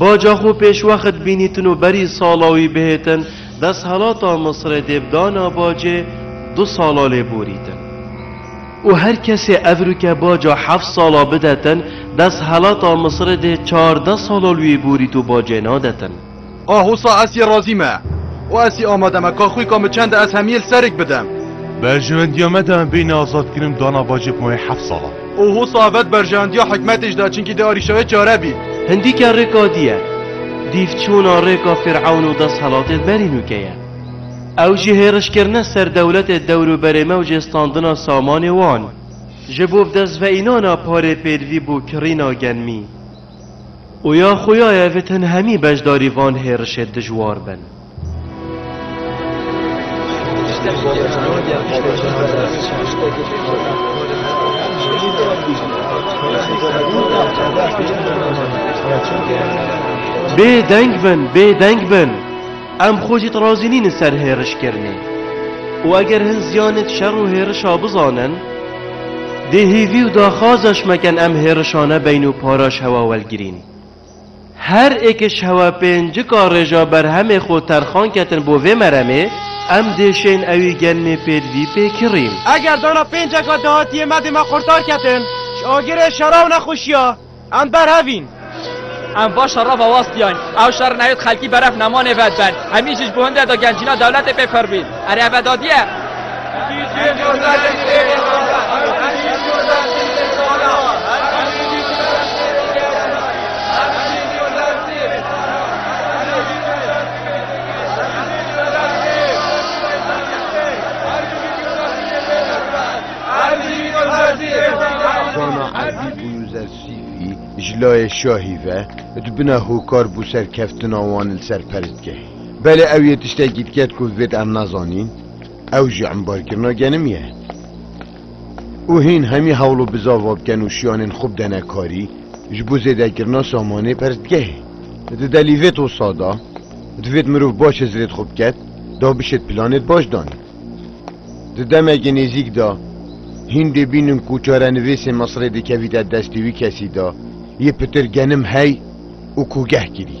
Baca xwe pêşwext bînîtin û berî sala wî bihêtin desthelata Misrê dê bi dana bacê du sala lê borîtin û her kesê evrûke baca heft sala bidetin desthelata Misrê dê çardeh sala li wî borît û bacê nadetin. A Hosa ez yê razî me û ez yê amade me ka xwî ka min çende ez hemiyê li serik bidim. Berjewendiya me de em bên azadkirin bi dana bacê bi mayê heft sala. O ho savet berjewendiya hikmetê ji de çinkî dê arîşayê çare bî. Hindîke rêka dî ye. Dîv çûna rêka Fîr'ewn û deshelatê berî nûke ye. Ew jî hêrişkirine ser dewletê dewrûberê me û cêstandina samanê wan. Ji bo bidestveînana parê pêdivî bû kirîna genmî. Û ya xuyaye vit hin hemî beşdarî van hêrişê dijwar bin. Bê deng bin, bê deng bin. Em xwe jî razî nîn li ser hêrişkirinê. Û eger hin ziyanê di şer û hêrişa bizanin, dê hêvî û daxwaza ji me ken em hêrişane beyn û para ji hewa welgirîn. Her êkişhewa pêncika rêja berhemê xwe terxan ketin bo vê meremê, em dê şên ewî genmê pêdvî pê kirîn. Eger dana pênceka dehatiyê me dê me qurtar ketin ji agirê şera û nexweşiya, em berhevîn. Em va şera vewastiyan. Ew şer nayê xelkî beref nemanê vediben. Em î ji bo hinde de gencîna dewletê pê pir bîn. Erê eve dadî e. Dana erdî bû Yuzer Sîfî ji layê şahî ve di bina hokar bû serkeftina wan li ser perstgehê. Belê ew yê tiştekî diket ku vêt em nazanîn, ew jî embarkirina genim ye. Û hîn hemî hewl û bizava biken û şiyanên xwe bidene karî ji bo zêdekirina samanê persdgehê. Di delî vê tosa de divêt mirov baş hizrêt xwe biket da bişêt planêt baş danîn. Di demekê nêzîk de hîn dê bînin ku çarenivêsê Misrê dikevîte destê wî kesî de yê pitir genim hey û kogeh kirî.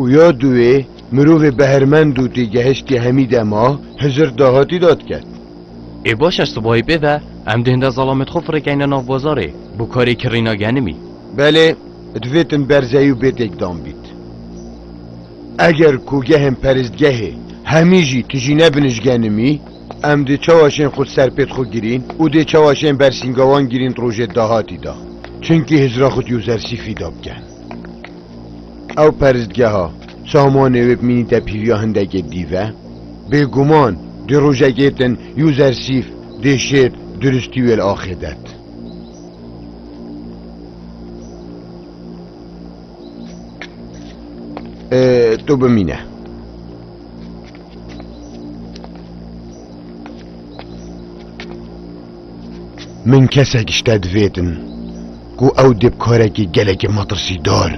Û ya duwê mirovê behrmend û tê gehiştî hemî dema hizir dahatî da diket. Ê baş e sibahî pê ve em dê hinde zalamê di xwe firêkeyne nav bazarê bo karê kirîna genimî. Belê divê tim berzeyî û bê têkdan bît. Eger kogehên peristgehê hemî jî tijî nebin ji genimî em dê çawa şên xwe di ser pê di xwe girîn û dê çawa şên bersîngawan girîn di rojê dahatî da. Çinkî hizira xwe dî û zersîfî da biken. Ew peristgeha samanê wê bimînîte pîriya hindekê dî ve? Bêguman di rojekê din user sif dê şêr duristî wê li axê det. Tu bimîne. Min kesek ji te divêtin ku ew dê bi karekî gelekî metirsîdar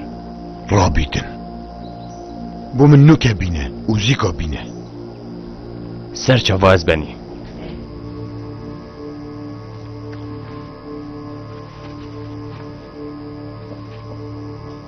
rabîtin. Bo min nûke bîne û zîka bîne. Ser çava ez benî.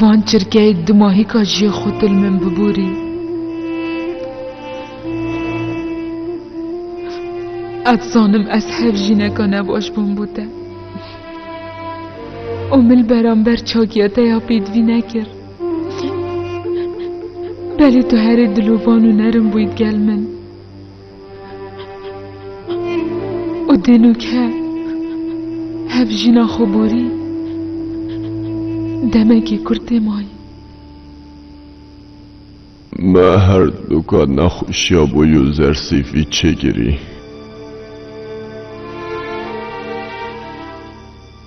Van çirkeyê di mahîka jiyê xwe til min biborî. Ez zanim ez hev jîneka nebaş bûm bû te. O mil beramber çakiya te ya pêdvî nekir. Belê tu herê dilovan û nerin bûyît gel min. û dênûke hev jîna xwe borî demekê kurd tê mayî. Me her duka nexweşiya bo yo zersîfî çêkirî.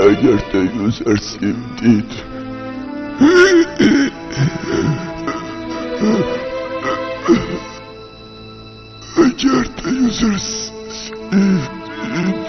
Eger te Yuzer Sim dît Eger te Yuzer Sim dît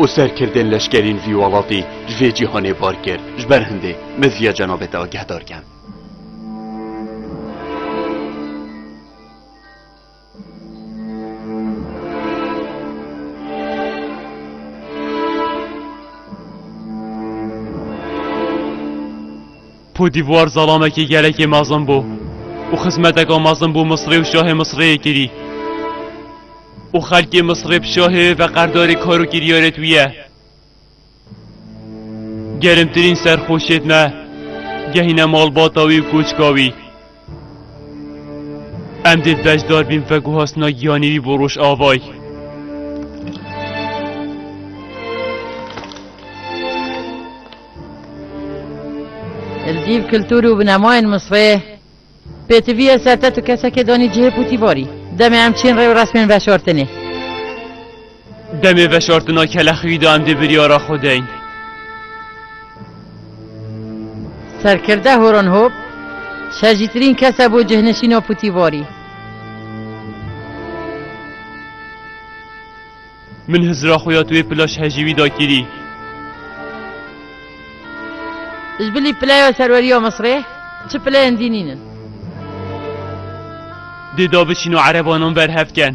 û serkirdên leşkerîn vî welatî ji vê cîhanê bar kir. Ji ber hindê me ziya cenabê te agehdar kem. Kotdîvuar zalamekî gelekî mezin bû û xizmeteka mezin bû Misrê û şahê Misrê yê kirî û xelkê Misrê bi şahê wê ve qerdarê kar û kiryarê tû ye. Gerimtirîn serxweşiyet me gehîne malbata wî û koçka wî. Em dê beşdar bîn veguhastina giyanê wî bo Rojavayê. Li dîv kultur û binemayên Misrê pêtiviye sertet û kesekê danî cihê pûtîvarî. Demê em çîn rê û resmên veşartinê. Demê veşartina kelexwîdan dê biryara xwe deyn. Serkirde Horon Hop, şerjîtirîn kes e bo cihneşîna putîvarî. Min hizra xwe ya tuê pila şehejî wî da kirî. Ji bilî pileya serweriya Misrê çi pileyên dînîn in? Dê da biçîno erebanan berhev ken.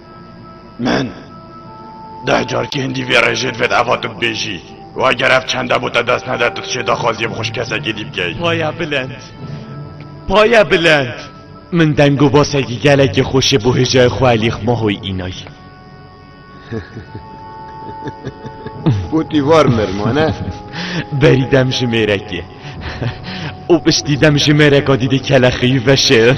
Min deh car kêndî vê rêjê divêt eva tu bibêjî. Wa ger ev çend hebû te dest nede tu dişê daxwaziyê bi xwişk kesekî dî bikey. Paya bilend. Paya bilend. Min deng û basekî gelekî xweş ê bo hêjayê xwe elî xmahoy înay. Wotî var mir mane. Berî dem ji mêrekê. û piştî dem ji mêreka dîdê kelexeyî veşêrin.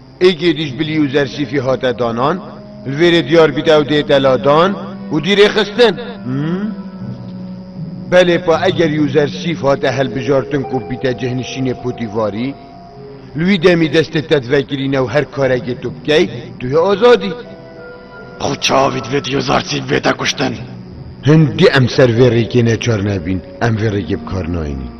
Êgê dij bi lî û zersîfî hate danan, li vê rê diyar bît ew dê te ladan û dî rê xistin. Belê pa eger yû zersîf hate helbijartin ku bîte cihnişînê potîvarî, li wî demî destê te divekirîne û her karekê tu bikey, tu yê azadî. Ew çavî divê tu yû zersîf bête kuştin. Hindî em ser vê rêkê neçar nebîn, em vê rêkê bi kar nayînin.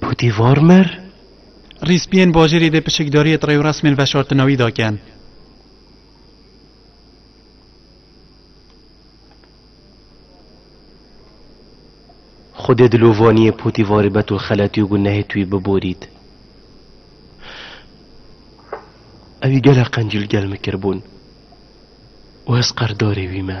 Pûtî var mir? Rîspiyên bajêrî dê piçikdariyê di rêwresmên veşartinawî de kin. Xwedê di lovaniyê pûtî varê betûl xeletî û gunehê tûyî biborît. Ewî gelek qencî li gel min kiribûn û ez qerdarê wî me.